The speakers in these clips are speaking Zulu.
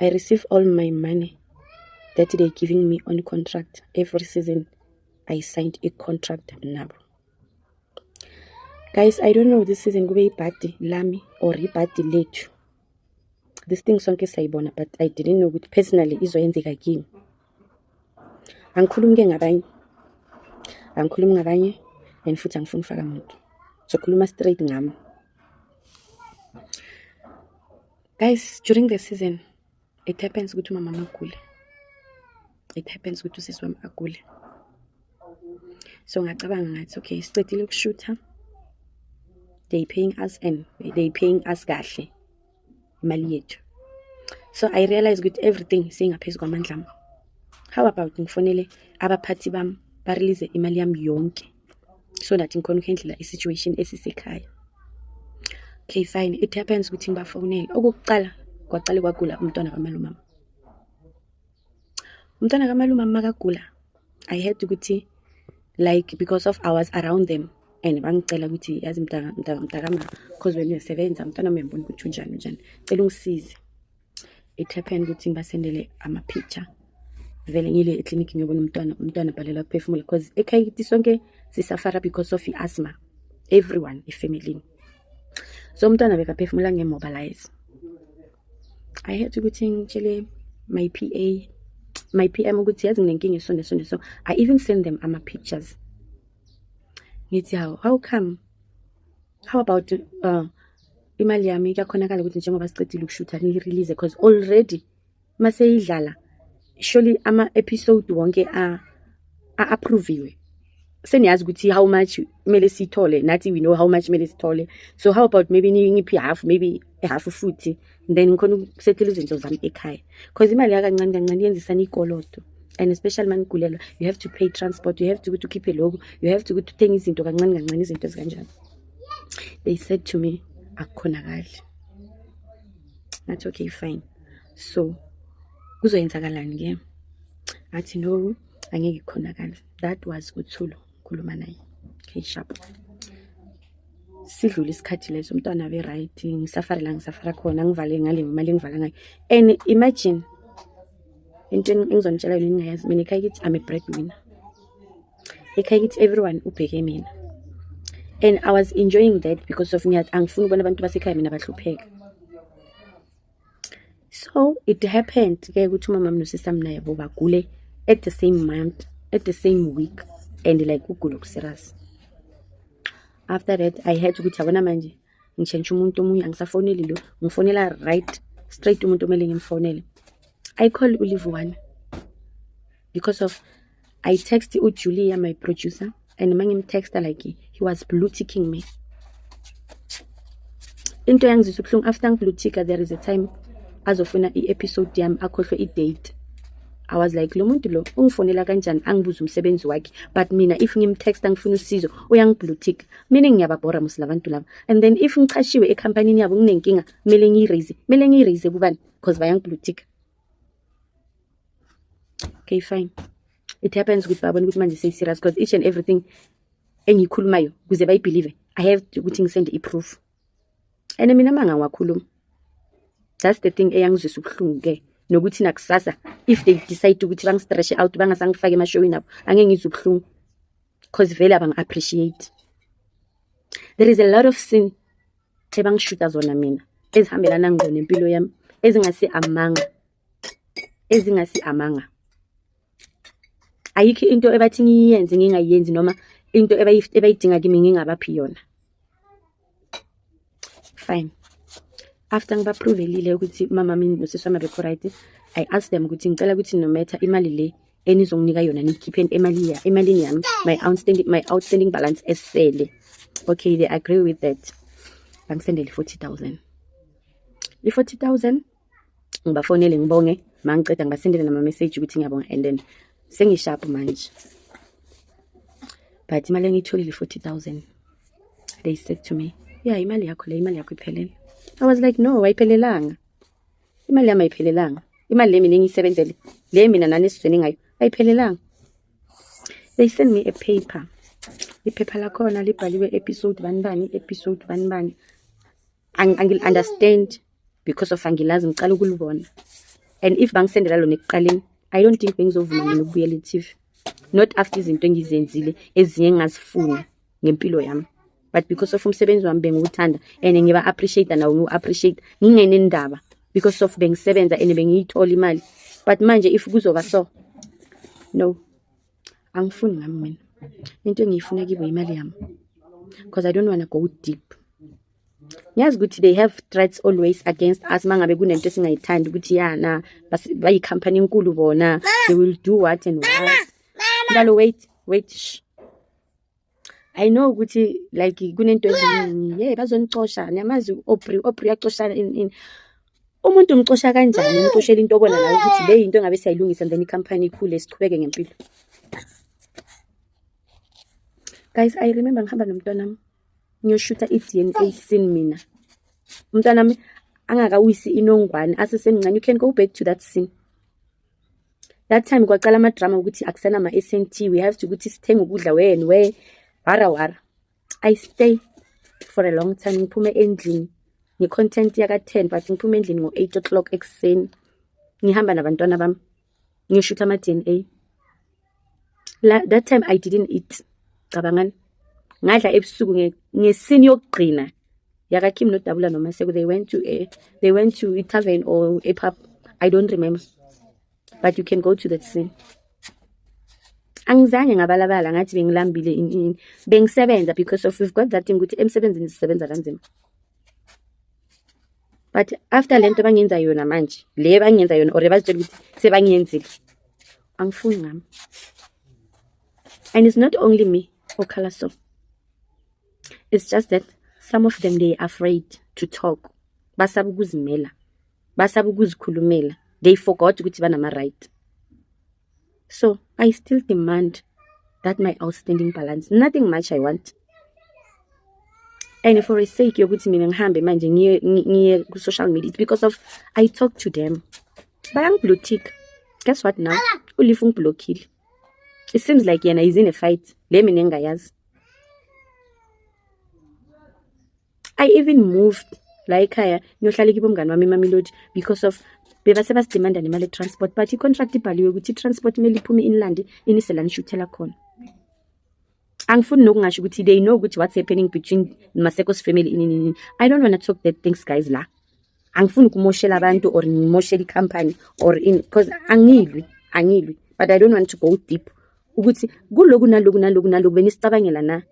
I receive all my money that they giving me on contract every season I signed a contract nabo guys I don't know this season kube ibhadi lami or ibhadi lethu this thing sonke sayibona but I didn't know ukuthi personally izoyenzeka kimi angikhulumi ke ngabanye angikhulumi ngabanye and futhi angifuni ufaka muntu sokhuluma straight ngami guys during the season it happens ukuthi umama magule it happens ukuthi usisi wami agule so ngacabanga ngathi okay siqedile ukushutha they paying us and they paying us kahle imali yethu so i realize ukuthi everything seyingaphezu kwamandla ami how about ngifonele abaphathi bami barelease imali yami yonke so that ngikhona ukuhendlela i-situation esisekhaya okay fine it happens ukuthi ngibafonele okokuqala kwaqale kwagula umntwana kamalumama umntwana kamalume amakagula i heard ukuthi like because of hours around them and bangicela ukuthi yazi mntakama because when uyasebenza mntwana uyambona ukuthi unjani unjani cela ungisize it happened ukuthi ngibasendele ama-picture vele ngile eklinikhi ngiyobona umntwana umntwana abhalelwa kuphefumula because ekhaya kithi sonke sisafara because of i-asthma everyone efamilini so umntwana bekaphefumula nge-mobilize i had ukuthi ngitshele my p a my p m ukuthi yazi nginenkinga esonde sonde so i even send them ama-pictures ngithi how how come how about uh, imali yami kuyakhonakala ukuthi njengoba sicedile ukushutha ngiyirelease because already uma seyidlala surely ama-episode wonke a-approviwe seniyazi ukuthi how much kumele sithole nathi we know how much kumele sithole so how about maybe ngiphi half maybe half futhi then ngikhona ukusethela izinto zami ekhaya because imali yakancane kancane yenzisana ikoloto and especially uma nigulelwa you have to pay transport you have to ukuthi ukhiphe loku you have to ukuthi uthenge izinto kancane kancane izinto ezikanjani they said to me akukhonakali ngathi okay fine so kuzoyenzakalani ke athi no angeke khonakala that was uthulu ngikhuluma naye okay sharp sidlule isikhathi leso umntwana abe right ngisafare la ngisafara khona ngivale ngale imali engivala ngayo and imagine into engizonitshela yona ningayazi mina ekhaya kithi i'm a breadwinner ekhaya kithi everyone ubheke mina and i was enjoying that because of ngiyat angifuni ukubona abantu basekhaya mina bahlupheka so it happened ke ukuthi umama mnosisa mina yabo bagule at the same month at the same week and like kugula okuserious after that i had ukuthi yabona manje ngishentsha umuntu omunye angisafoneli lo ngifonela right straight umuntu omele ngimfonele i call ulive one because of I text u Julia my producer and mangimtexta like he was blue ticking me into yangizisa ubuhlungu after ngiblue ticker there is a time azofuna i-episode yami akhohlwe i-date I was like lo muntu lo ungifonela kanjani angibuza umsebenzi wakhe but mina if ngimtext angifuna usizo uyangiblue tick meaning ngiyababhora musi labantu laba and then if ngichashiwe ekhampanini yabo nginenkinga kumele ngiyiraise kumele ngiyiraise kubani because bayangiblue tick okay fine it happens ukuthi babona ukuthi manje seyiserious because each and everything engiyikhulumayo kuze bayibhilive i have ukuthi ngisende i-proof and mina manga ngiwakhuluma that's the thing eyangizwisa ubuhlungu-ke nokuthi nakusasa if they decide ukuthi bangistreshe out bangasangifake emashowini abo angeke ngizwe ubuhlungu because vele abangi-appreciate there is a lot of sin the bangishuta zona mina ezihambelana ngqo nempilo yami ezingasi amanga ezingasi amanga ayikho into ebathi ngiyenze ngingayenzi noma into ebayidinga kimi ngingabaphi yona fine after ngibaprovelile ukuthi mama mina nosisi wami abekho right i asked them ukuthi ngicela ukuthi no matter imali le enizonginika yona niyikhipheni emalini emalini yami my outstanding my outstanding balance esele okay they agree with that bangisendele i-forty thousand i-forty thousand ngibafonele ngibonge mangiceda ngibasendele nama-message ukuthi ngiyabonga and then sengishapu manje but imali engiyitholile i-forty thousand they said to me ya yeah, imali yakho le imali yakho iphelele i was like no wayiphelelanga imali yami ayiphelelanga imali le mina engiyisebenzele le mina nani esizweni ngayo ayiphelelanga they send me a paper iphepha lakhona libhaliwe episode bani bani episode bani bani angil-understand because of angilazi ngicala ukulibona and if bangisendela lona ekuqaleni i don't think bengizovuma mina ukubuyela etv not after izinto engizenzile ezinye engingazifuni ngempilo yami but because of umsebenzi wami bengiwuthanda and ngiba appreciate nawo ngiwu appreciate ngingenendaba because of bengisebenza and bengiyithola imali but manje if kuzoba so no angifuni ngami mina into engiyifuna kibo imali yami because i don't wanna go deep ngiyazi ukuthi they have threats always against us mangabe kunento esingayithandi ukuthi yana bayicompany enkulu bona they will do what and what mntalo wait wait shh I know ukuthi like kunento eziningi hey bazonixosha niyamazi obri obri yaxoshana in in umuntu umxosha kanjani umxoshela into obona la ukuthi le into engabe siyayilungisa and then i company ikhule siqhubeke ngempilo guys i remember ngihamba nomntwana wami ngiyoshutha i-dna scene mina umntwana wami angakawisi inongwane asesemncane you can go back to that scene that time kwaqala amadrama ukuthi akusena ma-snt we have to ukuthi sithenge ukudla wen we wara wara i stay for a long time ngiphume endlini ngi-content yaka-ten but ngiphume endlini ngo-eight o'clock ekuseni ngihamba nabantwana bami ngiyoshuthi ama-d n a la that time i didn't eat cabangani ngadla ebusuku ngesini yokugcina yakakim nodabula nomaseko they went to a they went to a tavern or a pub i don't remember but you can go to that scene angizange ngabalabala ngathi bengilambile inini bengisebenza because of we've got that thing ukuthi emsebenzini sisebenza kanzima but after le nto bangenza yona manje le bangenza yona or bazitshela ukuthi sebangiyenzile angifuni ngami and it's not only me okhala so it's just that some of them they are afraid to talk basaba ukuzimela basaba ukuzikhulumela they forgot ukuthi banama-right so i still demand that my outstanding balance nothing much i want and for a sake yokuthi mina ngihambe manje ngiye ku-social media it's because of i talk to them bayangiblue tick guess what now uleaf ungiblockile it seems like yena is in a fight le mina engingayazi i even moved la ekhaya ngiyohlala kibo mngane wami imamelodi because of bebase basidimanda nemali etransport but icontract ibhaliwe ukuthi itransport kumele iphume inilande inise la nishuthela khona angifuni nokungasho ukuthi they know ukuthi what's happening between maseko's family inini i don't want to talk that things guys la angifuni ukumoshela abantu or ngimoshele i-company or in because angilwi angilwi but i don't want to go deep ukuthi kuloku naloku naloku naloku benisicabangela na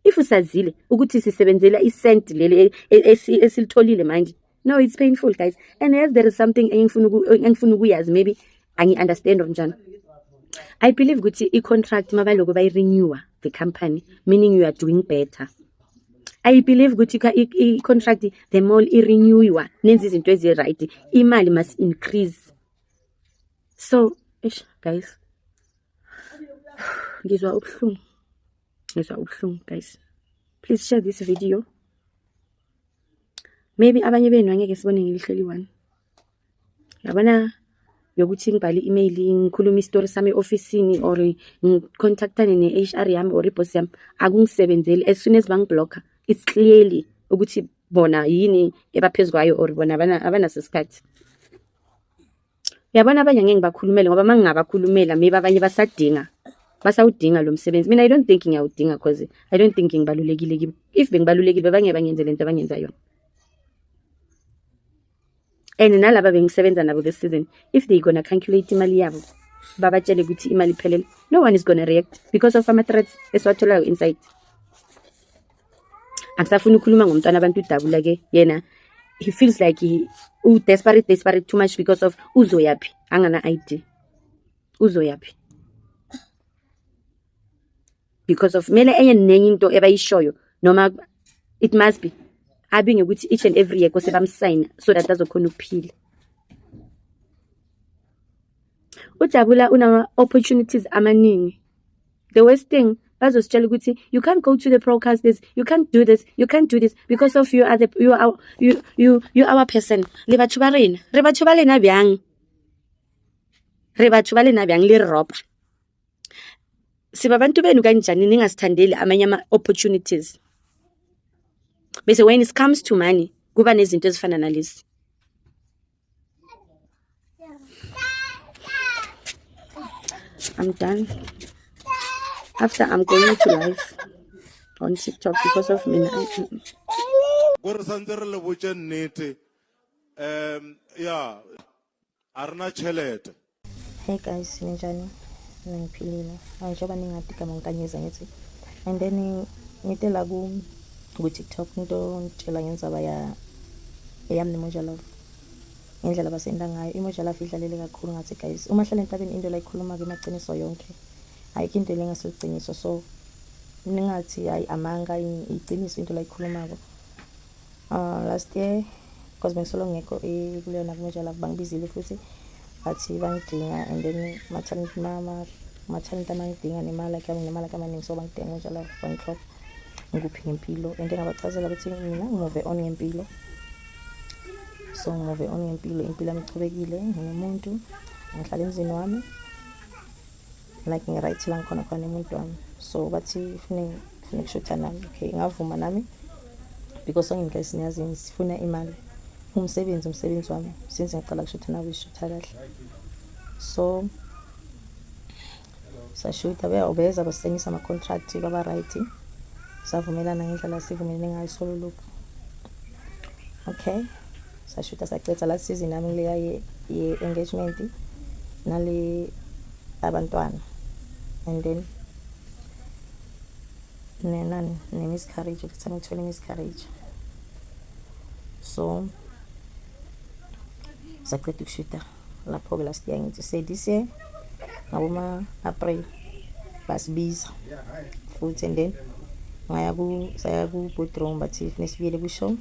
if usazile ukuthi sisebenzela isent leli e, e, esilitholile manje no it's painful guys and as there is something engifuna ukuyazi maybe angi-understand or njani i believe ukuthi i-contract mabaloko bayi-renewer the company meaning you are doing better I believe ukuthi i-contract the mall i-renewiwa nenza izinto ezi-right imali must increase so ish guys ngizwa ubuhlungu ngizwa ubuhlungu guys please share this video maybe abanye benu angeke sibone ngelihlo eliyi-one yabona yokuthi ngibhale i-email ngikhulume isitori sami e-ofisini or ngicontactane ne-h r yami or ibhosi yami akungisebenzeli as soon as bangiblokha it's clearly ukuthi bona yini ebaphezu kwayo or bona abanaso isikhathi yabona abanye ngeke ngibakhulumele ngoba uma ngingabakhulumela maybe abanye basadinga basawudinga lo msebenzi mina i don't think ngiyawudinga cause i don't think ngibalulekile kibo if bengibalulekile bebangeke bangenze le nto abangenza yona and nalaba bengisebenza nabo this season if they gonna calculate imali yabo babatshele ukuthi imali iphelele no one is gonna react because of ama-threats esiwatholayo inside angisafuni ukukhuluma ngomntwana abantu udabula ke yena he feels like he u-desperate desperate too much because of uzoyaphi angana-id uzoyaphi because of mele enye nenye into ebayishoyo noma it must be abi ngekuthi each and every year kose bamsayina so that azokhona ukuphila ujabula unama-opportunities amaningi the worst thing bazositshela ukuthi you can't go to the broadcast this you can't do this you can't do this because of you are the you are you you you our person le batho ba rena re batho ba lena bjang re batho ba lena bjang le ropa siba abantu benu kanjani ningasithandeli amanye ama-opportunities bese when it comes to money kuba nezinto ezifana nalezi I'm done. After I'm going to live on TikTok because of me. Gore santse re le botse nnete. Um yeah. a ri na tshelede Hey guys, ninjani? Mina ngiphilile. Hayi njengoba ningadi gama ngikanyeza ngithi and then ngite la ku ku TikTok into ngitshela ngenzaba ya yami nemoja love. Ngendlela basenda ngayo imoja love idlalele kakhulu ngathi guys. Uma hlala entabeni into la ikhuluma ke maqiniso yonke. Ayikho into lengaseliciniso so ningathi hayi amanga iqiniso into la ikhulumako. Uh, last year because bengisolo ngekho kuleyona kumejala bangibizile futhi bathi bangidinga and then maternity mama maternity amangidinga nemali yakhe nemali yakhe amaningi so bangidinga kunjalo bangihlopha ngikuphi ngempilo and ngabachazela ukuthi mina ngimuve on ngempilo so ngimuve on ngempilo impilo yami ichubekile ngingumuntu ngihlala emzini wami like ngi-right la ngikhona khona umuntu wami so bathi fune fune kushutha nami okay ngavuma nami because ongenka isinyazini sifuna imali umsebenzi umsebenzi wami since ngaqala kushutha nawe ishutha kahle so sashutha beyawubeza basengisa ama-contract kwaba-right savumelana ngendlela sivumelene ngayo sololokhu okay sashutha sacetha last season nami leya ye-engagement nale abantwana and then nenani ne-miscarriage kuthana ngithole i-miscarriage so saqeda ukushuta lapho-ke last year ngithi se this year ngaboma-april basibiza futhi and then ngaya saya ku-boodroom bathi funeka sibuyele kwishow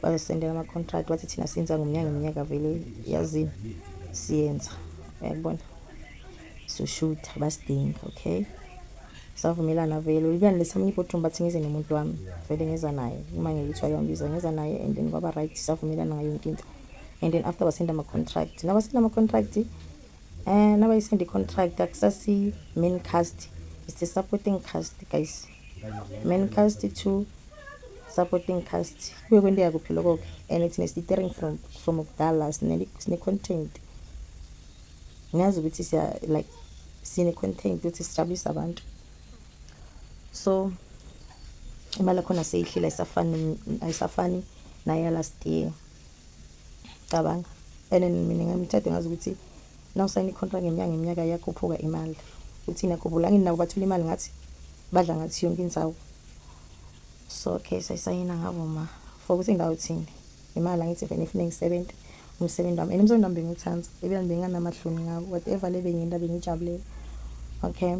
bazosendela ama-contract bathi thina senza ngomnyaka ngeminyaka vele yazini siyenza uyakubona soshutha basidinga okay savumelana vele ulibani lesamunye ibodrum bathi ngize nomuntu wami vele ngeza naye uma ngilithiwa kuyambiza ngeza naye and then kwaba right savumelana ngayo yonke into and then after basenda ama-contract nabasenda ama-contract um eh, nabayisenda i-contract akusasi-main cast it's the supporting cast guys Mancast to supporting cast kuye kwenteka kuphi lokho-ke and thina sititering from from kudala sine-content ngiyazi ukuthi siya like sine-content ukuthi sijabulise abantu so imali yakhona seyihlile ayisafani ayisafani nayalast year cabanga and mina ngamthathe ngazi ukuthi nawusayina icontract ngenyanga iminyaka iyakhuphuka imali uthina khumbulangini nabo bathola imali ngathi badla ngathi yonke insawu so okay sayisayina ngavuma for ukuthi ngawuthini imali angithi vele ngifune ngisebenze umsebenzi wami and umsebenzi wami bengiwuthanda ebila benginganamahloni ngawo whatever le bengiyenza bengiyijabulela okay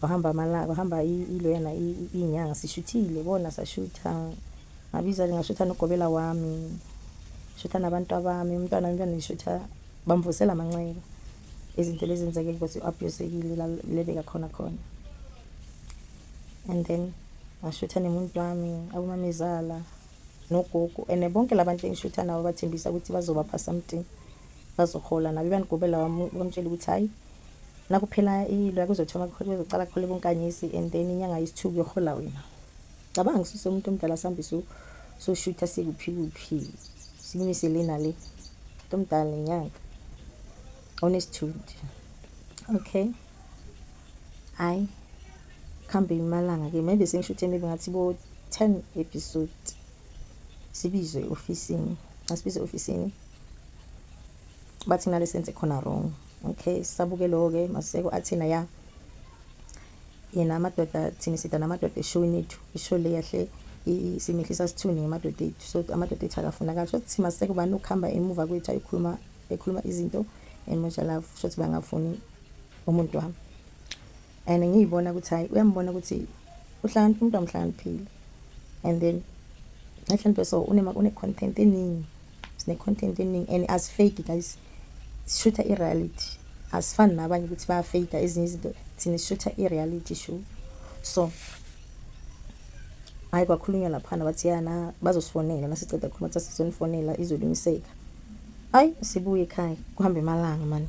kwahamba amalanga kwahamba iloyana iy'nyanga sishuthile bona sashutha ngabiza ngashutha nogobela wami shutha nabantu abami umntwana umntwana ngishutha bamvusela amanxeba izinto lezi zenzeke ukuthi u-abusekile lebeka khona khona and then ngashutha nemuntu wami abomamezala nogogo and bonke labantu engishutha nabo bathembisa ukuthi bazobapha something bazohola nabo ibanigobela wami bamtshela ukuthi hhayi Nakuphela ilo yakuzothoma kuzoqala kuhola ubunkanyisi and then inyanga yesithuku kuyohola wena. Cabanga ngisuse umuntu omdala sihambe soshutha sikuphi kuphi simise le nale. Umuntu omdala nenyanga onesithunzi. Okay. Hayi kuhambe imalanga ke maybe sengishuthe maybe ngathi bo 10 episode sibizwe ofisini asibize ofisini bathina lesenze khona wrong okay sabuke lo ke maseko athina ya yena amadoda thina sida namadoda eshoni ethu isho le yahle isimehlisa sithuni ngemadoda ethu so amadoda ethu akafuna kahle shothi thima seke ubani ukuhamba emuva kwethu ayikhuluma ekhuluma izinto and much love shothi bangafuni umuntu wami and ngiyibona ukuthi hayi uyambona ukuthi uhlakaniphe umuntu amhlakaniphile and then ehloniphe so une-content eningi sine-content eningi and asifake guys sishutha i-reality asifani nabanye ukuthi bayafeyika ezinye izinto thina sishutha i-reality show so hhayi kwakhulunywa laphana bathi yana bazosifonela nasiceda khuluma kuthiwa sizonifonela izolungiseka hhayi sibuye ekhaya kuhambe emalanga mani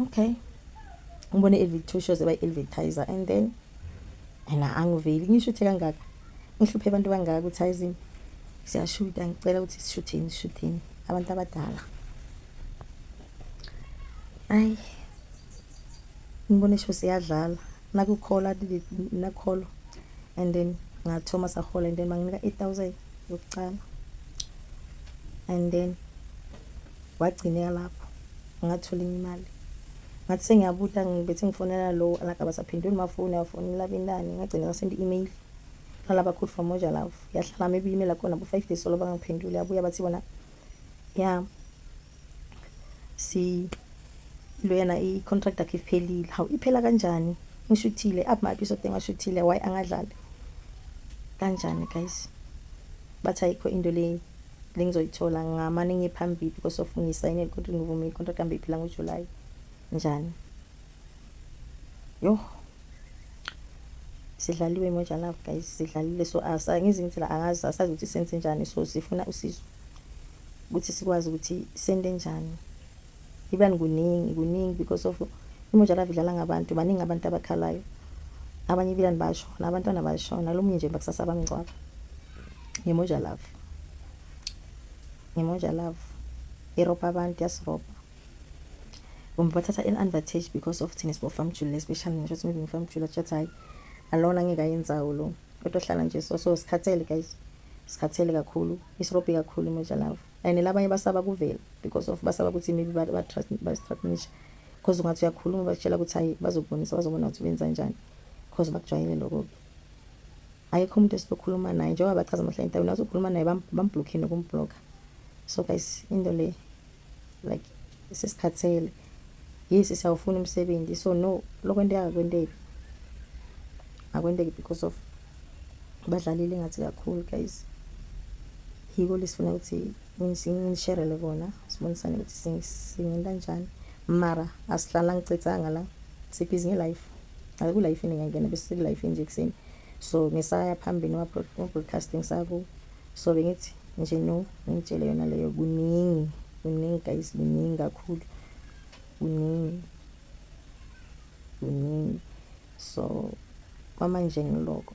okay ngibone i-elvic two shows ebayi-elvitizer and then and angiveli ngishuthe kangaka ngihluphe abantu kangaka ukuthi ayizini siyashuta ngicela ukuthi sishutheni sishutheni abantu abadala ayi ngibone isho siyadlala nakukhola nakholo and then ngathoma sahola and then banginika i-thousand yokucala and then wagcineka lapho ngathola enye imali ngathi sengiyabuta ngibethi ngifonela lo alagaba saphendula umafoni afonela bentani ngagcina ngasenda i-email lalaba khulu from moja love yahlala maybe i-email akhona bo-five days solo bangangiphenduli yabuya bathi bona ya si lo yena i-contract akhe iphelile hawu iphela kanjani ngishuthile aphi ma-episode engashuthile why angadlali kanjani guys bathi ayikho into leyi Lengizoyithola ngamane ngiye phambili kosofu ngiyisayinele kodwa ngivume icontract yami iphela ngoJuly. Njani? Yoh. Sidlaliwe Moja Love guys, sidlalile so asa ngizi ngithi la angazi asazi ukuthi senze njani so sifuna usizo ukuthi sikwazi ukuthi sende njani. Ibani kuningi kuningi because of imojalavi idlala ngabantu baningi abantu abakhalayo abanye ibilani basho nabantwana basho nalomunye nje bakusasa abamngcwaba ngemojalavi ngemojalavi irobha abantu yasirobha kumbe bathatha i-advantage because of thina sibofamjule especially ngisho ukuthi maybe ngifamjule atshathi hhayi alona ngeke ayenzawo lo kodwa hlala nje so so sikhathele guys sikhathele kakhulu isirobhi kakhulu imojalavi and labanye basaba kuvela because of basaba ukuthi maybe bastrasnisha because ungathi uyakhuluma bakutshela ukuthi hayi bazokubonisa bazobona ukuthi benza njani because bakujwayele lokho-ke ayekho umuntu esizokhuluma naye njengoba bachaza amahla entabeni bazokhuluma naye bambhlokhe nokumbhlokha so guys into le like sesikhathele yisi siyawufuna umsebenzi so no lokwenteka akwenteki akwenteki because of badlalile ngathi kakhulu guys yiko lesifuna ukuthi ngisherele kona sibonisane ukuthi singenta njani mara asihlala ngicethanga la sibhizi ngelife akuyilife ini ngiyangena bese sekulife nje ekuseni so ngisaya phambili wa-broadcasting saku so bengithi nje no ngitshele yona leyo kuningi kuningi guys kuningi kakhulu kuningi kuningi so kwamanje ngiloko